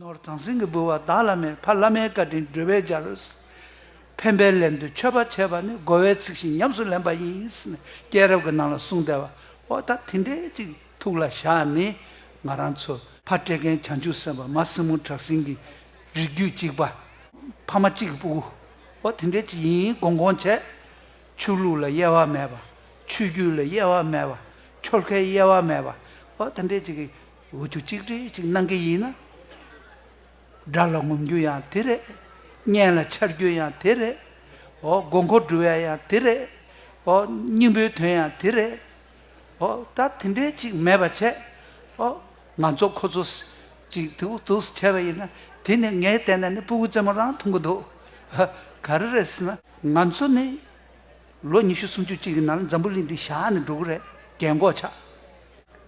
ནོར་བྱང་སེང་གེ་འབུལ་བ་བདག་བླ་མས་ཕ་བླ་མའི་བཀའ་དྲིན་སྒྲོལ་བས་སྦྱར་རོ། ཕན་པའི་ལན་དུ་མཆོད་པ་བྱས་པ་ནི་བསྒོ་བའི་ཚིག་བཞིན་ཉམས་སུ་ལེན་པ་ཡིན། སྐྱེས་རབས་ཀྱི་ནང་ལ་གསུང་བདེ་བ་ཨོ་ད་དེ་འདྲས་ཅིག་ཐུགས་ལ་བཞག་ནི་ང་རང་ཚོ། ཕ་སྤྲེལ་རྒན་བྱང་ཆུབ་སེམས་དཔའ་མ་སྲིང་མོ་བྲག་སྲིན་གྱི་རིགས་རྒྱུད་གཅིག་པ། ཕ་མ་གཅིག་གི་སྤུ་གུ་ཨོ་དེ་འདྲས་ཅིག་ཡིན་དགོངས་དགོངས་བྱས། ཆོས་ལུགས་ལ་དབྱེ་བ་མེད་པ། ཆོས་བརྒྱུད་ལ་དབྱེ་བ་མེད་པ། ཆོལ་ཁའི་དབྱེ་བ་མེད་པ་ཨོ་དེ་འདྲས་ཅིག་གི། འོས་བསྡུ་གཅིག་སྒྲིལ་ཅིག་གནང་གི་ཡིན་ན། དགྲ་ལ་ངོམ་རྒྱུ་ཡང་དེ་རེད། གཉེན་ལ་འཆར་རྒྱུ་ཡང་དེ་རེད། ཨོ་དགོས་མཁོ་འབྲི་བ་ཡང་དེ་རེད། ཨོ་སྙིང་པོའི་དོན་ཡང་དེ་རེད། ཨོ་ད་དེ་འདྲའི་ཅིག་མེད་པ་བྱས། ཨོ་ང་ཚོ་ཁོ་ཚོ་ཅིག་དུག་ལྟུགས་བྱས་པ་ཡིན་ན་དེ་ནི་ངས་བལྟས་ན་ནི་སྤུ་གུ་རྩེ་མོ་རང་འཐུང་གི་འདུག་ག་རེ་རེད་ཟེར་ན། ང་ཚོ་ནི་ལོ་ཉི་ཤུ་སུམ་ཅུ་གཅིག་གི་ནང་འཛམ་བུ་གླིང་འདི་བཞག་ནས་འགྲོ་གི་རེད་རྒན་གོག་ཆགས།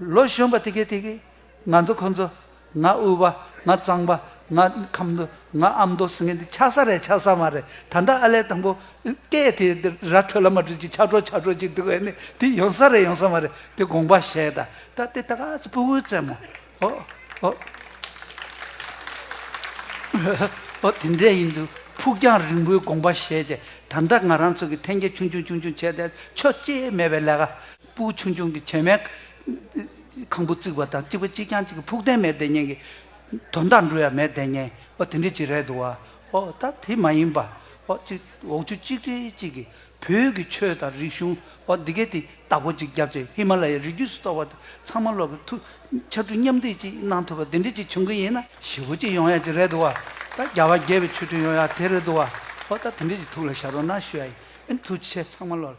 ལོ་གཞོན་པ་དེ་གས་དེ་གས། ང་ཚོ་ཁོ་ཚོ། ང་དབུལ་བ། ང་གཙང་པ། ང་ཁམ་མདོ། ང་ཨ་མདོ་ཟེར་མཁན་དེ་ཆགས་ས་རེད་ཆགས་ས་མ་རེད་ད་ལྟ་ཨ་ལས་དང་པོ། སྐད་དེ་ར་འཕྲོད་ལ་མ་འཕྲོད་ཅིག་ཆགས་འཕྲོ་ཆགས་འཕྲོ་ཅིག་འདུག་ཨེ་ནི་དེ་ཡོང་ས་རེད་ཡོང་ས་མ་རེད་དེ་དགོངས་པ་བཞེས་ད་ད་དེ་ད་ག་ཚོད་སྤུ་བོའི་རྩེད་མོ། ཨོ། ཨོ། ཨོ་དེ་འདྲས་ཡིན་འདུག་ཕུགས་རྒྱང་རིང་པོའི་དགོངས་པ་བཞེས་རྗེས་ད་ལྟ་ང་རང་ཚོ་གི་འཐེན་འཁྱེར་ཆུང་ཆུང་ཆུང་ཆུང་བྱས་ཏེ་ཆོ་གཅེས་མེད་པའི་ལས་ཀ། སྤུ་ཆུང་ཆུང་གི་བྱེ་མའི་ཁང་བུ་བརྩིགས་པ་དང་གཅིག་པུ་གཅིག་རྐྱང་གཅིག་གི་ཕུགས་བརྟན་མའི་བདེ་གཉེན་གྱི། དོ་ཟླ་འབྲུ་ཡ་མའི་བདེ་གཉེན་ཨོ་དེ་འདྲའི་གཅིག་རེད་འདུག་བ། ཨོ་ད་དེ་མ་ཡིན་པ། ཨོ་གཅིག་འོག་ཆུ་གཅིག་སྤྲེལ་གཅིག་གི། བོད་ཀྱི་ཆོས་དང་རིག་གཞུང་ཨོ་འདི་གའི་དེ་བདག་པོ་གཅིག་རྒྱབ་ཅེས་ཧི་མ་ལ་ཡའི་རི་རྒྱུད་སུ་གཏོགས་པ་དེ་ཚང་མ་ལོག་གི་ཐུ། ཕྱར་གྲུ་མཉམ་འདེགས་ཀྱིས་གནང་ཐུབ་པ་འདི་འདྲས་ཅིག་བྱུང་གི་ཡིན་ན་ཞི་བུ་གཅིག་ཡོང་ཡ་ཅིག་རེད་འདུག་བ། ད་རྒྱ་བ་རྒྱལ་བའི་ཆོས་ཁྲིམས་ཡོང་ཡ་དེ་རེད་འདུག་བ། ཨོ་ད་དེ་འདྲས་ཅིག་ཐུགས་ལ་ཤར་རོགས་གནང་ཞུ་ཡ་ཡིན། ཐུགས་ཆེ་ཚང་མ་བློ་ལ།